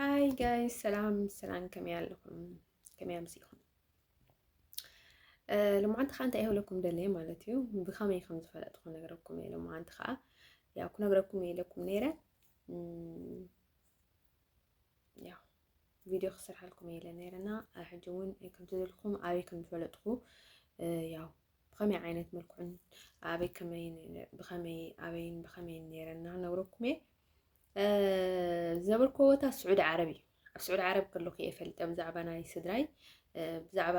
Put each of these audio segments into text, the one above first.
ሃይ ጋይስ ሰላም ሰላም፣ ከመይ ኣለኹም? ከመይ ኣምሲኹም? ልምዓንቲ ከዓ እንታይ ይህብለኩም ደለየ ማለት እዩ ብኸመይ ከም ዝፈለጥኩ ክነግረኩም እየ። ልምዓንቲ ከዓ ያው ክነግረኩም እየ ኢለኩም ነይረ ያው ቪድዮ ክሰርሓልኩም እየ ኢለ ነይረና ሕጂ እውን ከምቲ ዝልኩም ኣበይ ከም ዝፈለጥኩ ያው ብኸመይ ዓይነት መልክዑን ኣበይ ከመይ ብኸመይ ኣበይን ብኸመይን ነይረና ክነግረኩም እየ ዝነበርኩዎ ቦታ ስዑዲ ዓረብ እዩ ኣብ ስዑዲ ዓረብ ከለኹ እየ ፈልጠ ብዛዕባ ናይ ስድራይ ብዛዕባ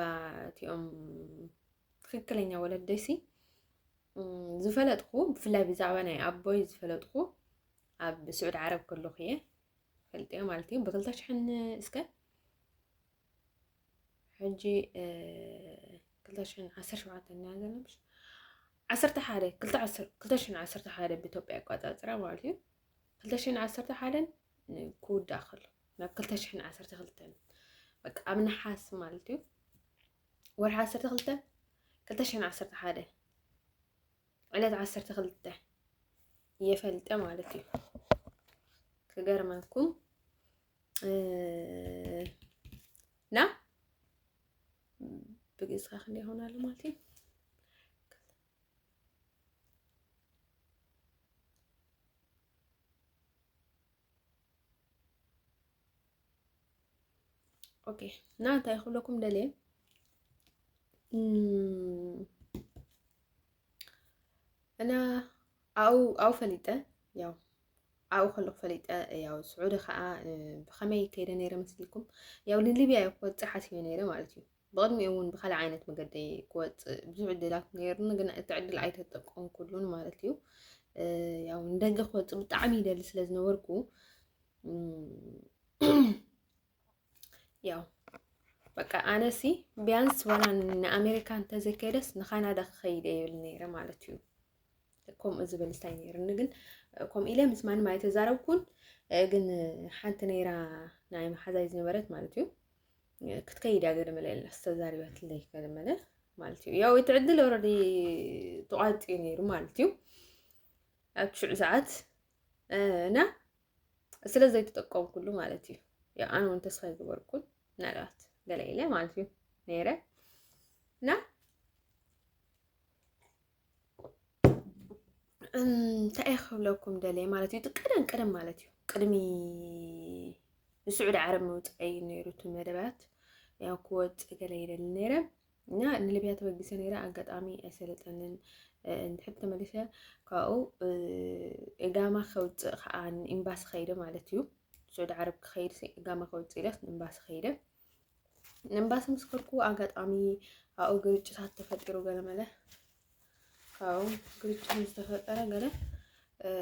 እቲኦም ትክክለኛ ወለደይሲ ዝፈለጥኩ ብፍላይ ብዛዕባ ናይ ኣቦይ ዝፈለጥኩ ኣብ ስዑዲ ዓረብ ከለኹ እየ ፈልጠዮ ማለት እዩ ብክልተ ሽሕን እስከ ሕጂ ክልተ ሽሕን ዓሰርተ ሸውዓተን ኢና ዘለና ምሽ ዓሰርተ ሓደ ክልተ ዓሰር ክልተ ሽሕን ዓሰርተ ሓደ ብኢትዮጵያ ኣቆጻጽራ ማለት እዩ ክልተ ሽሕን ዓሰርተ ሓደን ን- ክውዳእ ከሎ ናብ ክልተ ሽሕን ዓሰርተ ክልተን በቃ ኣብ ነሓስ ማለት እዩ ወርሒ ዓሰርተ ክልተ ክልተ ሽሕን ዓሰርተ ሓደ ዕለት ዓሰርተ ክልተ እየፈልጠ ማለት እዩ ክገርመኩም እና ብግዝካ ክንደ ይሆናሉ ማለት እዩ ኦኬ እና እንታይ ክብለኩም ደልየ እና ኣው ኣው ፈሊጠ ያው ኣብኡ ከለኹ ፈሊጠ ያው ስዑዲ ከዓ ብኸመይ ከይደ ነይረ መስልኩም ያው ንሊብያ እየ ክወፅእ ሓሲበ ነይረ ማለት እዩ ብቕድሚኡ እውን ብካልእ ዓይነት መገዲ ክወፅእ ብዙሕ ዕድላት ነይሩኒ ግን እቲ ዕድል ኣይተጠቀምኩሉን ማለት እዩ ያው ንደገ ክወፅእ ብጣዕሚ ይደሊ ስለ ዝነበርኩ ያው በቃ ኣነሲ ቢያንስ ዋላ ንኣሜሪካ እንተዘይከደስ ንካናዳ ክኸይደ ይብል ነይረ ማለት እዩ። ከምኡ ዝብል እንታይ ነይርኒ ግን ከምኡ ኢለ ምስ ማንም ኣይተዛረብኩን። ግን ሓንቲ ነይራ ናይ መሓዛይ ዝነበረት ማለት እዩ ክትከይድ እያ ገለመለ የለስ ተዛሪበትለይ ገለመለ ማለት እዩ ያው እቲ ዕድል ኦልሬዲ ተቋርፂ ነይሩ ማለት እዩ ኣብ ሽዑ ሰዓት እና ስለ ዘይተጠቀምኩሉ ማለት እዩ ኣነ እውን ተስፋ ይገበርኩን ምናልባት ገለ ኢለ ማለት እዩ ነይረ እና እንታይ እየ ክብለኩም ደለየ ማለት እዩ ቀደም ቀደም ማለት እዩ ቅድሚ ንስዑዲ ዓረብ ምውፅዐይ ነይሩ እቲ መደባት ያው ክወፅእ ገለ ይደሊ ነይረ እና ንሊብያ ተበጊሰ ነይረ ኣጋጣሚ ኣይሰለጠንን እንድሕር ተመሊሰ ካብኡ እጋማ ከውፅእ ከዓ ኤምባሲ ከይደ ማለት እዩ ሱዑዲ ዓረብ ክኸይድ እጋማ ከውፅእ ኢለስ ንኤምባሲ ከይደ ንኤምባሲ ምስ ከድኩ ኣጋጣሚ ኣብኡ ግርጭታት ተፈጢሩ ገለ መለ ካብኡ ግርጭት ምስ ተፈጠረ ገለ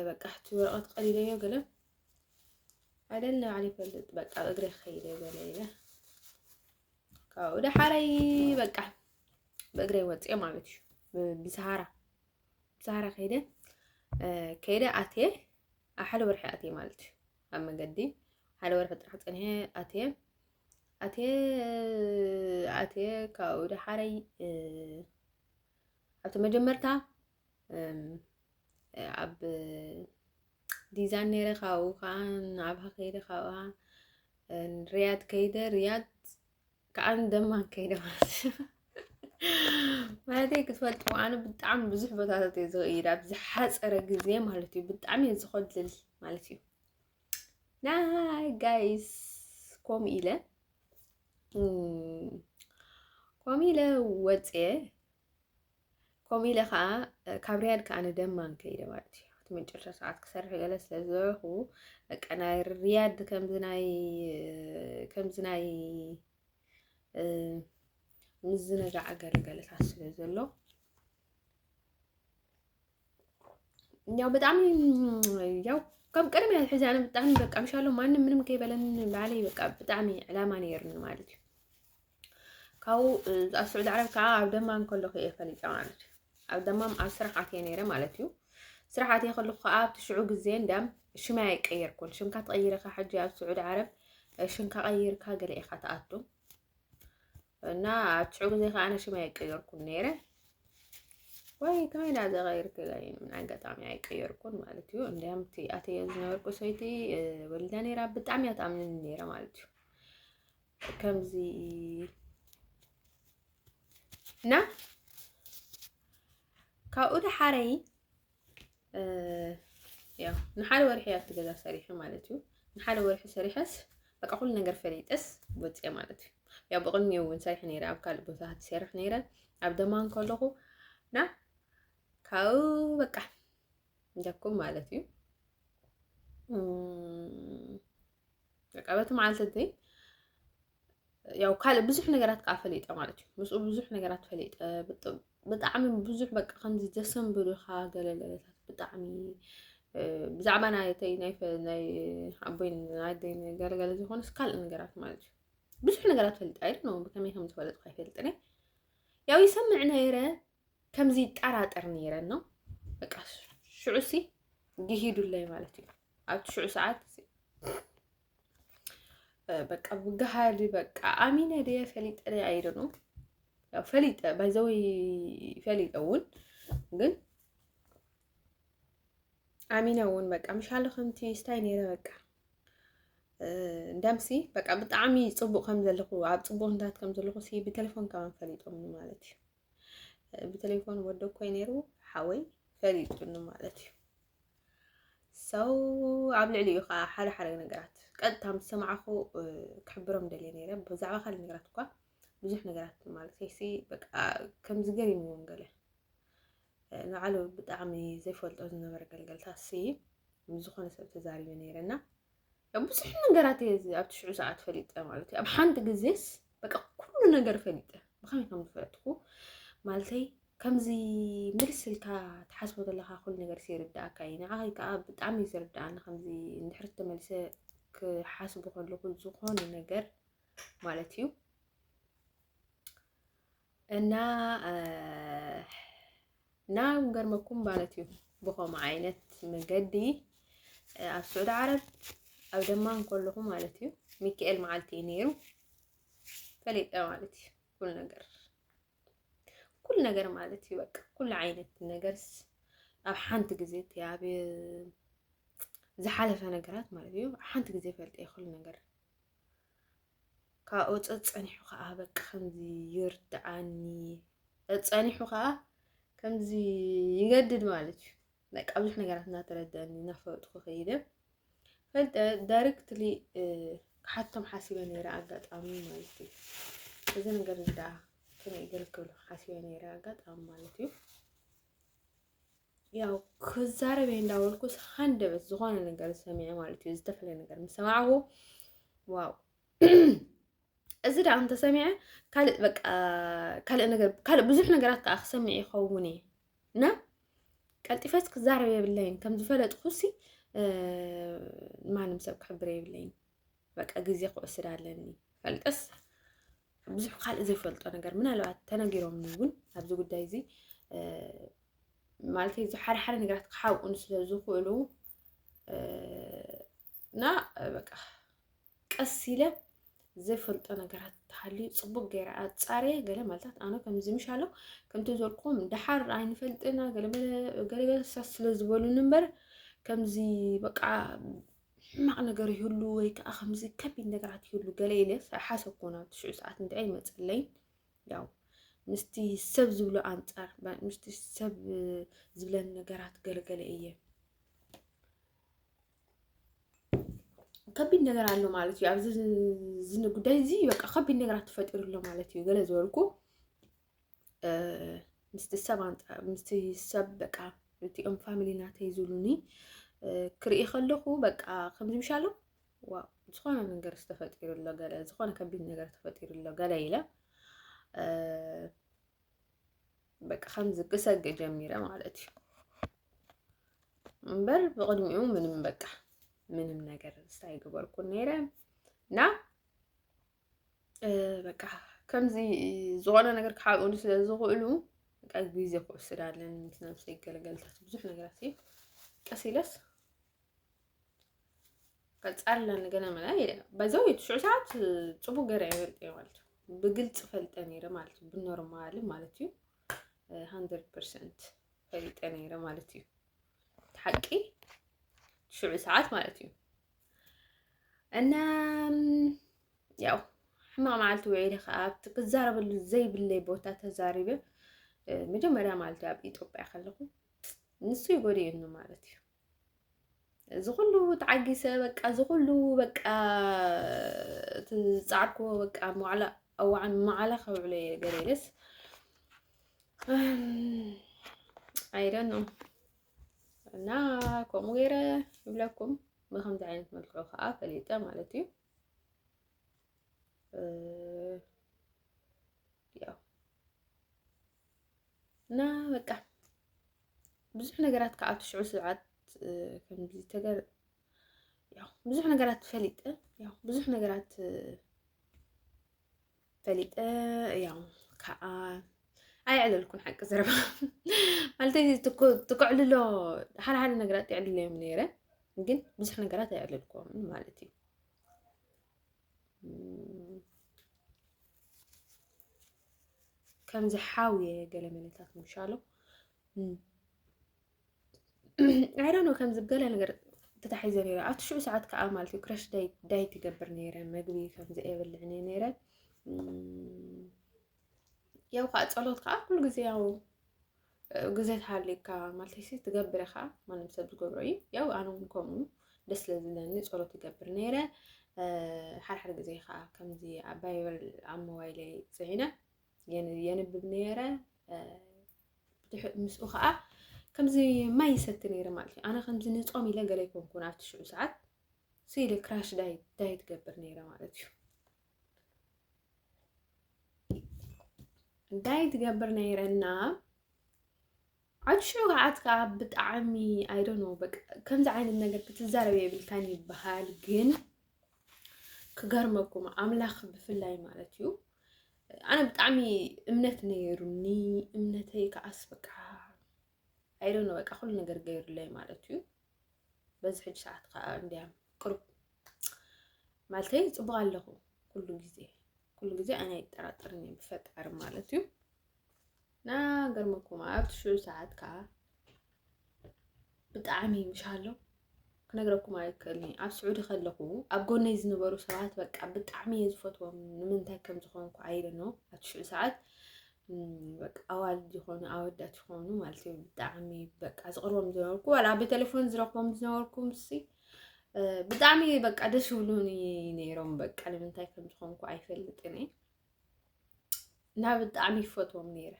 በቃ ሕቲ ወረቐት ቀሊለዮ ገለ ኣደለ ባዕለ ይፈልጥ በቃ እግረ ከይደ ገለ ኢለ ካብኡ ዳሓረይ በቃ ብእግረይ ወፅኤ ማለት እዩ ብሰሃራ ብሰሃራ ከይደ ከይደ ኣትየ ኣብ ሓደ ወርሒ ኣትየ ማለት እዩ ኣብ መገዲ ሓደ ወርሒ ጥራሕ ፀኒሐ ኣትየ ኣትየ ኣትየ ካብኡ ዳሓረይ ኣብቲ መጀመርታ ኣብ ዲዛን ነይረ ካብኡ ከዓ ንኣብሃ ከይደ ካብኣ ሪያድ ከይደ ሪያድ ከዓ ደማን ከይደ ማለት ማለተይ ክትፈልጥዎ ኣነ ብጣዕሚ ብዙሕ ቦታታት እየ ዝኸይድ ኣብ ዝሓፀረ ግዜ ማለት እዩ ብጣዕሚ እየ ዝኸድል ማለት እዩ ናይ ጋይስ ከምኡ ኢለ ከምኡ ኢለ ወፅየ ከምኡ ኢለ ከዓ ካብ ሪያድ ከዓ ንደማም ከይደ ማለት እዩ እቲ መጨረሻ ሰዓት ክሰርሕ ገለ ስለ ዝበልኩ በቃ ናይ ሪያድ ከምዚ ናይ ከምዚ ናይ ምዝንጋዕ ገለ ገለታት ስለ ዘሎ ያው ብጣዕሚ ያው ካብ ቅድሚ ሕዚ ኣነ ብጣዕሚ በቃ ምሻሎ ማንም ምንም ከይበለን ንባዕለይ በቃ ብጣዕሚ ዕላማ ነይርኒ ማለት እዩ ካብኡ ኣብ ስዑዲ ዓረብ ከዓ ኣብ ደማም ከለኹ እየ ፈሊጠ ማለት እዩ ኣብ ደማም ኣብ ስራሕ ኣትየ ነይረ ማለት እዩ ስራሕ ኣትየ ከለኹ ከዓ ኣብቲ ሽዑ ግዜ እንዳም ሽመይ ኣይቀየርኩን ሽምካ ትቐይርካ ሕጂ ኣብ ስዑዲ ዓረብ ሽምካ ቀይርካ ገለ ኢኻ ትኣቱ እና ኣትሽዑ ግዜ ከዓ ኣነ ሽመይ ኣይቀየርኩን ነይረ ወይ ከመይ ዳ ዘቀይርክ ምን ኣጋጣሚ ኣይቀየርኩን ማለት እዩ እንዲያም እቲ ኣተየ ዝነበርኩ ሰይቲ ወሊዳ ነይራ ብጣዕሚ እያ ትኣምንን ነይረ ማለት እዩ ከምዚ እና ካብኡ ደሓረይ ያው ንሓደ ወርሒ ኣብቲ ገዛ ሰሪሐ ማለት እዩ ንሓደ ወርሒ ሰሪሐስ በቃ ኩሉ ነገር ፈሊጠስ ወፀ ማለት እዩ ያው ብቕድሚ እውን ሰሪሐ ነይረ ኣብ ካልእ ቦታ ትሰርሕ ነይረ ኣብ ደማን ከለኹ እና ካብኡ በቃ እንደኩም ማለት እዩ በቃ በቲ መዓልቲ እዚ ያው ካልእ ብዙሕ ነገራት ከዓ ፈሊጠ ማለት እዩ ምስኡ ብዙሕ ነገራት ፈሊጠ ብጣዕሚ ብዙሕ በቃ ከምዚ ዘሰንብዱኻ ገለለለታት ብጣዕሚ ብዛዕባ ናይተይ ናይ ኣቦይ ናይደይ ገለገለ ዝኾነስ ካልእ ነገራት ማለት እዩ ብዙሕ ነገራት ፈልጥ ኣይደ ነው ብከመይ ከም ዝፈለጥኩ ኣይፈልጥን ያው ይሰምዕ ነይረ ከምዚ ይጠራጠር ነይረ ነው በቃ ሽዑሲ ግሂዱለይ ማለት እዩ ኣብቲ ሽዑ ሰዓት በቃ ብግሃሊ በቃ ኣሚነ ድየ ፈሊጠ ናይ ኣይደ ነው ያው ፈሊጠ ባይዘው ፈሊጠ እውን ግን ኣሚነ እውን በቃ ምሻለ ከምቲ ስታይ ነይረ በቃ እንዳምሲ በቃ ብጣዕሚ ፅቡቅ ከም ዘለኹ ኣብ ፅቡቅ ንታት ከም ዘለኹ ሲ ብቴሌፎን ካብ ፈሊጦም ማለት እዩ ብቴሌፎን ወደ ኮይ ነይሩ ሓወይ ፈሊጡኒ ማለት እዩ ሰው ኣብ ልዕሊኡ ከዓ ሓደ ሓደ ነገራት ቀጥታ ምስ ሰማዕኹ ክሕብሮም ደልየ ነይረ ብዛዕባ ካልእ ነገራት እኳ ብዙሕ ነገራት ማለት ሲ በቃ ከምዚ ገሪምዎም ገለ ንባዕሉ ብጣዕሚ ዘይፈልጦ ዝነበረ ገልገልታት ሲ ምስ ዝኾነ ሰብ ተዛሪበ ነይረ እና ብዙሕ ነገራት እየ ኣብ ትሽዑ ሰዓት ፈሊጠ ማለት እዩ ኣብ ሓንቲ ግዜስ በቃ ኩሉ ነገር ፈሊጠ ብኸመይ ከም ዝፈለጥኩ ማለተይ ከምዚ ምልስ ኢልካ ትሓስቦ ዘለካ ኩሉ ነገር ይርዳእካ እዩ ንዓይ ከዓ ብጣዕሚ እዩ ዝርዳእኒ ከምዚ እንድሕር ተመልሰ ክሓስቦ ከለኩ ዝኾነ ነገር ማለት እዩ እና እና ገርመኩም ማለት እዩ ብከምኡ ዓይነት መገዲ ኣብ ስዑዲ ዓረብ ኣብ ደማ እንከለኹ ማለት እዩ ሚካኤል መዓልቲ እዩ ነይሩ ፈሊጠ ማለት እዩ ኩል ነገር ኩል ነገር ማለት እዩ በቃ ኩሉ ዓይነት ነገርስ ኣብ ሓንቲ ግዜ እቲ ኣብ ዝሓለፈ ነገራት ማለት እዩ ሓንቲ ግዜ ፈልጠ ይኽእል ነገር ካብኡ ጸጸኒሑ ከዓ በቃ ከምዚ ይርድኣኒ ጸጸኒሑ ከዓ ከምዚ ይገድድ ማለት እዩ በቃ ብዙሕ ነገራት እናተረድአኒ እናፈለጥኩ ከይደ ፈልጠ ዳይሬክትሊ ክሓቶም ሓሲበ ነይረ ኣጋጣሚ ማለት እዩ እዚ ነገር እዚ ደኣ ከመይ ይገልገሉ ሓሲበ ነይረ ኣጋጣሚ ማለት እዩ ያው ክዛረብ እየ እንዳበልኩስ ሃንደበት ዝኾነ ነገር ሰሚዐ ማለት እዩ ዝተፈለየ ነገር ምስ ሰማዕኹ ዋው እዚ ደኣ እንተሰሚዐ ካልእ በቃ ካልእ ነገር ካልእ ብዙሕ ነገራት ከዓ ክሰምዕ ይኸውን እየ እና ቀልጢፈስ ክዛረብ የብለይን ከም ዝፈለጥኩሲ ማንም ሰብ ክሕብር የብለይን በቃ ግዜ ክወስድ ኣለኒ ፈልጠስ ብዙሕ ካልእ ዘይፈልጦ ነገር ምናልባት ተነጊሮምኒ እውን ኣብዚ ጉዳይ እዚ ማለት እዚ ሓደ ሓደ ነገራት ክሓብኡን ስለ ዝኽእሉ እና በቃ ቀስ ኢለ ዘይፈልጦ ነገራት ተሃልዩ ፅቡቅ ገይረ ኣፃርየ ገለ ማለታት ኣነ ከምዚ ምሽ ኣሎ ከምቲ ዘልኩም ደሓር ኣይንፈልጥና ገለገለ ሳስ ስለ ዝበሉኒ እምበር ከምዚ በቃ ሕማቕ ነገር ይህሉ ወይ ከዓ ከምዚ ከቢድ ነገራት ይህሉ ገለ ኢለ ሓሰብኮ ናብ ትሽዑ ሰዓት እንድዒ ይመፀለይን ያው ምስቲ ሰብ ዝብሎ ኣንፃር ምስቲ ሰብ ዝብለን ነገራት ገለገለ እየ ከቢድ ነገር ኣሎ ማለት እዩ ኣብዚ ጉዳይ እዚ በቃ ከቢድ ነገራት ተፈጢሩ ኣሎ ማለት እዩ ገለ ዝበልኩ ምስቲ ሰብ ምስቲ ሰብ በቃ እቲኦም ፋሚሊ ናተይ ዝብሉኒ ክርኢ ከለኹ በቃ ከምዚ ምሻሎ ዋ ዝኾነ ነገር ዝተፈጢሩ ኣሎ ገለ ዝኾነ ከቢድ ነገር ተፈጢሩ ኣሎ ገለ ኢለ በቃ ከምዚ ክሰግ ጀሚረ ማለት እዩ እምበር ብቕድሚኡ ምንም በቃ ምንም ነገር ስታይ ገበርኩን ነይረ እና በቃ ከምዚ ዝኾነ ነገር ክሓብኡኒ ስለ ዝኽእሉ በቃ ግዜ ክወስድ ኣለኒ ምስ ነብሰይ ገለገልታት ብዙሕ ነገራት እዩ ቀስ ኢለስ ቀፃል ኣለኒ ገለ መላ በዘው ሽዑ ሰዓት ፅቡቅ ገረ ይፈልጥ እየ ማለት እዩ ብግልፂ ፈልጠ ነይረ ማለት እዩ ብኖርማል ማለት እዩ ሃንድረድ ፐርሰንት ፈሊጠ ነይረ ማለት እዩ ሓቂ ሽዑ ሰዓት ማለት እዩ እና ያው ሕማቕ መዓልቲ ውዒለ ከዓ ኣብቲ ክዛረበሉ ዘይብለይ ቦታ ተዛሪበ መጀመርያ ማለት እዩ ኣብ ኢትዮጵያ ከለኹ ንሱ ይጎድእኒ ማለት እዩ እዚ ኩሉ ተዓጊሰ በቃ እዚ ኩሉ በቃ ዝፃዕርክዎ በቃ መዕላ እዋዓን መዓላ ከብዕሎ እየ ገለ ኢለስ ኣይደኖ እና ከምኡ ገይረ ይብለኩም ብከምዚ ዓይነት መልክዑ ከዓ ፈሊጠ ማለት እዩ ያው እና በቃ ብዙሕ ነገራት ከዓ ትሽዑ ስብዓት ከምዚ ተገር ያው ብዙሕ ነገራት ፈሊጠ ያው ብዙሕ ነገራት ፈሊጠ ያው ከዓ ኣየዕለልኩን ሓቂ ዘረባ ማለት ትከዕልሎ ሓደ ሓደ ነገራት የዕልሎ እዮም ነይረ ግን ብዙሕ ነገራት ኣየዕለልኩም ማለት እዩ ከምዚ ሓውየ ገለ መለታት ምሻሎ ኣይዶኖ ከምዚ ገለ ነገር ተታሒዘ ነይረ ኣብቲ ሽዑ ሰዓት ከዓ ማለት እዩ ክረሽ ዳይ ትገብር ነይረ መግቢ ከምዚ የብልዕኒ ነይረ ያው ከዓ ፀሎት ከዓ ኩሉ ግዜ ያው ግዜ ተሃልዩካ ማለት ሲ ትገብረ ከዓ ማንም ሰብ ዝገብሮ እዩ ያው ኣነ እውን ከምኡ ደስ ስለዝብለኒ ፀሎት ይገብር ነይረ ሓድሓደ ግዜ ከዓ ከምዚ ኣብ ባይበል ኣብ ሞባይለይ ፅዒነ የንብብ ነይረ ምስኡ ከዓ ከምዚ ማይ ይሰቲ ነይረ ማለት እዩ ኣነ ከምዚ ንፆም ኢለ ገለ ይኮንኩን ኣብቲ ሽዑ ሰዓት ስኢለ ክራሽ ዳይ ትገብር ነይረ ማለት እዩ ዳይ ትገብር ነይረና ዓቢ ሽውዓት ከዓ ብጣዕሚ ኣይዶኖ በቃ ከምዚ ዓይነት ነገር ክትዛረብ የብልካን ይበሃል ግን ክገርመኩም ኣምላኽ ብፍላይ ማለት እዩ ኣነ ብጣዕሚ እምነት ነይሩኒ እምነተይ ከዓስ በቃ ኣይደነ በቃ ኩሉ ነገር ገይሩለይ ማለት እዩ በዚ ሕጂ ሰዓት ከዓ እንዲያ ቅሩብ ማለተይ ፅቡቅ ኣለኹ ኩሉ ግዜ ኩሉ ግዜ ኣነ ኣይጠራጠርን እየ ብፈጣሪ ማለት እዩ ና ገርመኩም ኣብቲ ሽዑ ሰዓት ከዓ ብጣዕሚ ይምሻሎ ክነግረኩም ኣይክእልኒ ኣብ ስዑዲ ከለኹ ኣብ ጎነይ ዝነበሩ ሰባት በቃ ብጣዕሚ እየ ዝፈትዎም ንምንታይ ከም ዝኾንኩ ኣይደኖ ኣብቲ ሽዑ ሰዓት በቃ ኣዋልድ ዝኾኑ ኣወዳት ዝኾኑ ማለት እዩ ብጣዕሚ በቃ ዝቕርቦም ዝነበርኩ ዋላ ብቴሌፎን ዝረኽቦም ዝነበርኩ ምሲ ብጣዕሚ በቃ ደስ ይብሉኒ ነይሮም በቃ ንምንታይ ከም ዝኾንኩ ኣይፈልጥን እየ እና ብጣዕሚ ይፈትዎም ነይረ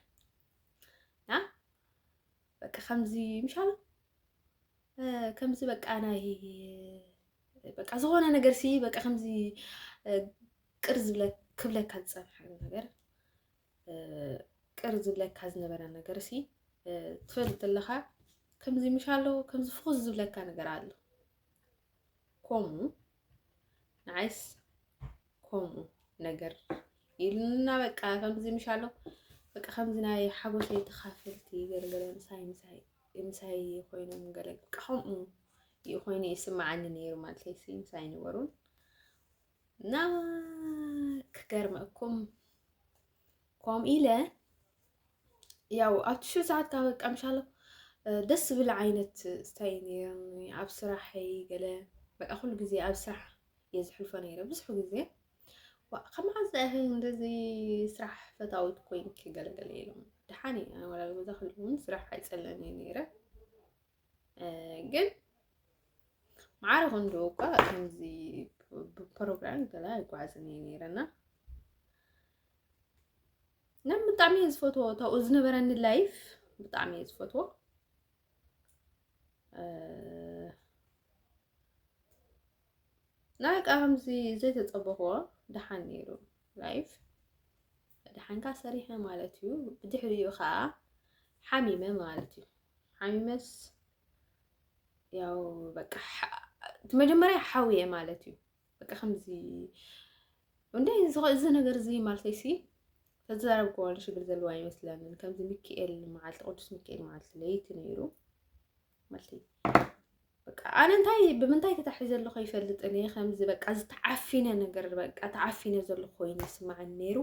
እና በቃ ከምዚ ምሻሉ ከምዚ በቃ ናይ በቃ ዝኾነ ነገር ሲ በቃ ከምዚ ቅር ዝብለ ክብለካ ዝፀንሐ ነገር ቅር ዝብለካ ዝነበረ ነገር ሲ ትፈልጥ ኣለኻ ከምዚ ምሻሎ ከምዚ ፍኹስ ዝብለካ ነገር ኣሎ ኮሙ ንዓይስ ኮሙ ነገር ኢልና በቃ ከምዚ ምሻሎ በቃ ከምዚ ናይ ሓጎሰይ ተኻፈልቲ ገለገለ ምሳይ ምሳይ ምሳይ ኮይኖም ገለ በቃ ከምኡ እዩ ኮይኑ ይስማዓኒ ነይሩ ማለት እዩ ምሳይ ነበሩን እና ክገርመኩም ከምኡ ኢለ ያው ኣብ ትሽዑ ሰዓት ካብ ቀምሻሎ ደስ ዝብል ዓይነት ስታይ ነይሮም ኣብ ስራሐይ ገለ በቃ ኩሉ ግዜ ኣብ ስራሕ እየ ዝሕልፎ ነይረ ብዙሕ ግዜ ካብ መዓዝ ኢኺ እንደዚ ስራሕ ፈታዊት ኮይንኪ ገለገለ ኢሎም ደሓን እዩ ኣነ ወላ ገዛ ክልውን ስራሕ ኣይፀልእን እየ ነይረ ግን ማዕረ ክንዶ እኳ ከምዚ ብፕሮግራም ገለ ኣይጓዓዝን እየ ነይረና እና ብጣዕሚ እየ ዝፈትዎ ታብኡ ዝነበረኒ ላይፍ ብጣዕሚ እየ ዝፈትዎ ላይክ ኣምዚ ዘይተጸበኽዎ ደሓን ነይሩ ላይፍ ደሓንካ ሰሪሐ ማለት እዩ ብድሕሪኡ ከዓ ሓሚመ ማለት እዩ ሓሚመስ ያው በቃ እቲ መጀመሪያ ሓውየ ማለት እዩ በቃ ከምዚ እንደ እዚ ነገር እዚ ማለተይ ሲ ተዛረብክዎ ሽግር ዘለዎ ኣይመስለንን ከምዚ ሚካኤል መዓልቲ ቅዱስ ሚካኤል መዓልቲ ለይቲ ነይሩ መልቲ በቃ ኣነ እንታይ ብምንታይ ተታሒዘ ኣለኹ ይፈልጥን እየ ከምዚ በቃ ዝተዓፊነ ነገር በቃ ተዓፊነ ዘለኹ ኮይኑ ይስማዓኒ ነይሩ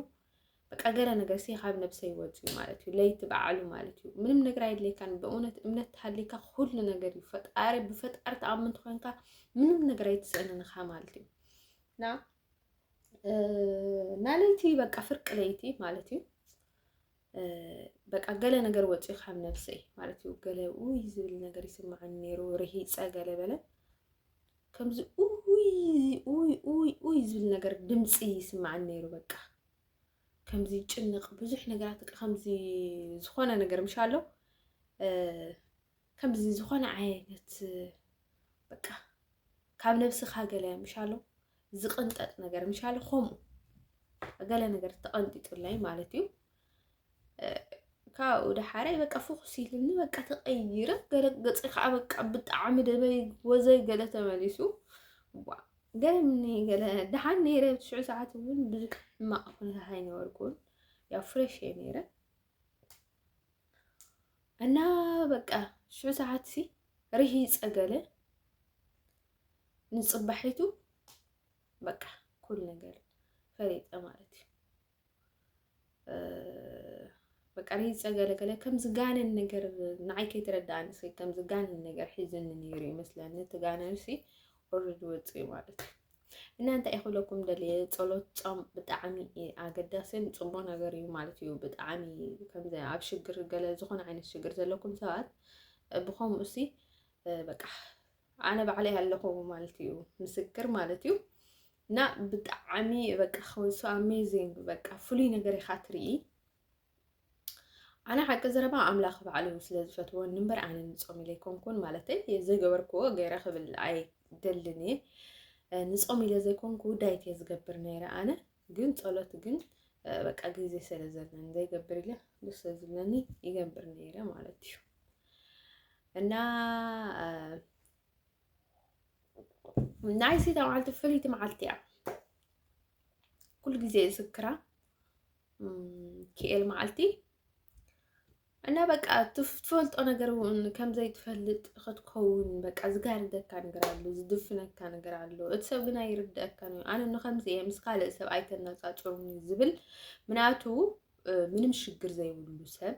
በቃ ገለ ነገር ሲ ካብ ነብሰይ ወፅዩ ማለት እዩ ለይቲ በዓሉ ማለት እዩ ምንም ነገር ኣይድለይካን ብእውነት እምነት ተሃልይካ ኩሉ ነገር እዩ ፈጣሪ ብፈጣሪ ተኣምን ትኮንካ ምንም ነገር ኣይትስእንንኻ ማለት እዩ እና እና ለይቲ በቃ ፍርቂ ለይቲ ማለት እዩ በቃ ገለ ነገር ወፂኡ ካብ ነብሰይ ማለት እዩ ገለ ውይ ዝብል ነገር ይስምዓኒ ነይሩ ርሂፀ ገለ በለ ከምዚ ውይ ውይ ውይ ውይ ዝብል ነገር ድምፂ ይስምዓኒ ነይሩ በቃ ከምዚ ጭንቕ ብዙሕ ነገራት ከምዚ ዝኾነ ነገር ምሻ ኣሎ ከምዚ ዝኾነ ዓይነት በቃ ካብ ነብስኻ ገለ ምሻሎ ዝቕንጠጥ ነገር ምሻሎ ከምኡ ገለ ነገር ተቐንጢጡለይ ማለት እዩ ካብኡ ደሓረይ በቃ ፍኹስ ኢልኒ በቃ ተቐይረ ገለ ገፂ ከዓ በቃ ብጣዕሚ ደበይ ወዘይ ገለ ተመሊሱ ገለ ምኒ ገለ ደሓን ነይረ ትሽዑ ሰዓት እውን ብዙሕ ሕማቕ ኩነታት ኣይነበርኩን ያው ፍሬሽ እየ ነይረ እና በቃ ሽዑ ሰዓት ሲ ርሂፀ ገለ ንፅባሒቱ በቃ ኩሉ ነገር ፈሪጠ ማለት እዩ በቃ ርሂፀ ገለ ገለ ከም ዝጋነን ነገር ንዓይ ከይተረዳእኒ ሲ ከም ዝጋነን ነገር ሒዙኒ ነይሩ ይመስለኒ እቲ ጋነን ሲ ኦልሬዲ ወፂኡ ማለት እዩ እና እንታይ እዩ ክብለኩም ደልየ ፀሎት ፆም ብጣዕሚ ኣገዳስን ፅቡቅ ነገር እዩ ማለት እዩ ብጣዕሚ ከምዚ ኣብ ሽግር ገለ ዝኾነ ዓይነት ሽግር ዘለኩም ሰባት ብኸምኡ እሲ በቃ ኣነ ባዕለይ ኣለኹ ማለት እዩ ምስክር ማለት እዩ እና ብጣዕሚ በቃ ከውሱ ኣሜዚንግ በቃ ፍሉይ ነገር ኢኻ ትርኢ ኣነ ሓቂ ዘረባ ኣምላኽ ባዕሉ ስለ ዝፈትወኒ እምበር ኣነ ንፆም ኢለ ኣይኮንኩን ማለተይ ዘይገበርክዎ ገይረ ክብል ኣይደልን እየ ንፆም ኢለ ዘይኮንኩ ዳይት እየ ዝገብር ነይረ ኣነ ግን ፀሎት ግን በቃ ግዜ ስለ ዘለኒ ዘይገብር ኢለ ደስ ዝብለኒ ይገብር ነይረ ማለት እዩ እና ናይ ሲታ መዓልቲ ፍልይቲ መዓልቲ እያ ኩሉ ግዜ ዝክራ ክኤል መዓልቲ እና በቃ ትፈልጦ ነገር እውን ከምዘይ ትፈልጥ ክትከውን በቃ ዝጋርደካ ነገር ኣሎ ዝድፍነካ ነገር ኣሎ እቲ ሰብ ግን ኣይርድአካን እዩ ኣነ ንከምዚ እየ ምስ ካልእ ሰብ ኣይተነፃፅሩኒ ዝብል ምንያቱ ምንም ሽግር ዘይብሉ ሰብ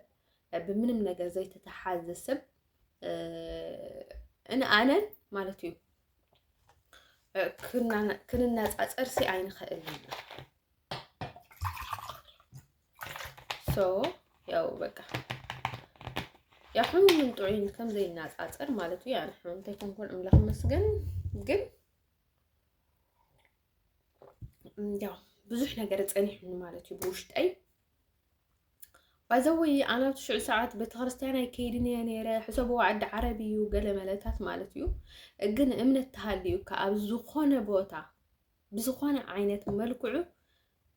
ብምንም ነገር ዘይተተሓዘ ሰብ ንኣነን ማለት እዩ ክንነፃፀር ሲ ኣይንኽእልን ሶ ያው በቃ ያው ሕሙምን ጥዑይን ከም ዘይናጻጸር ማለት እዩ። ያን ሕሙምተ ኮንኮን እምላኽ መስገን ግን ያው ብዙሕ ነገር ጸኒሑኒ ማለት እዩ ብውሽጠይ ባይዘወይ ኣነ ኣብቲ ሽዑ ሰዓት ቤተክርስትያን ኣይከይድን እየ ነይረ ሕሰብዎ ዓዲ ዓረብ እዩ ገለ መለታት ማለት እዩ ግን እምነት ተሃልዩካ ኣብ ዝኾነ ቦታ ብዝኾነ ዓይነት መልክዑ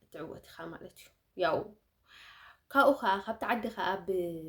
እትዕወት ኢኻ ማለት እዩ ያው ካብኡ ከዓ ካብቲ ዓዲ ከዓ ብ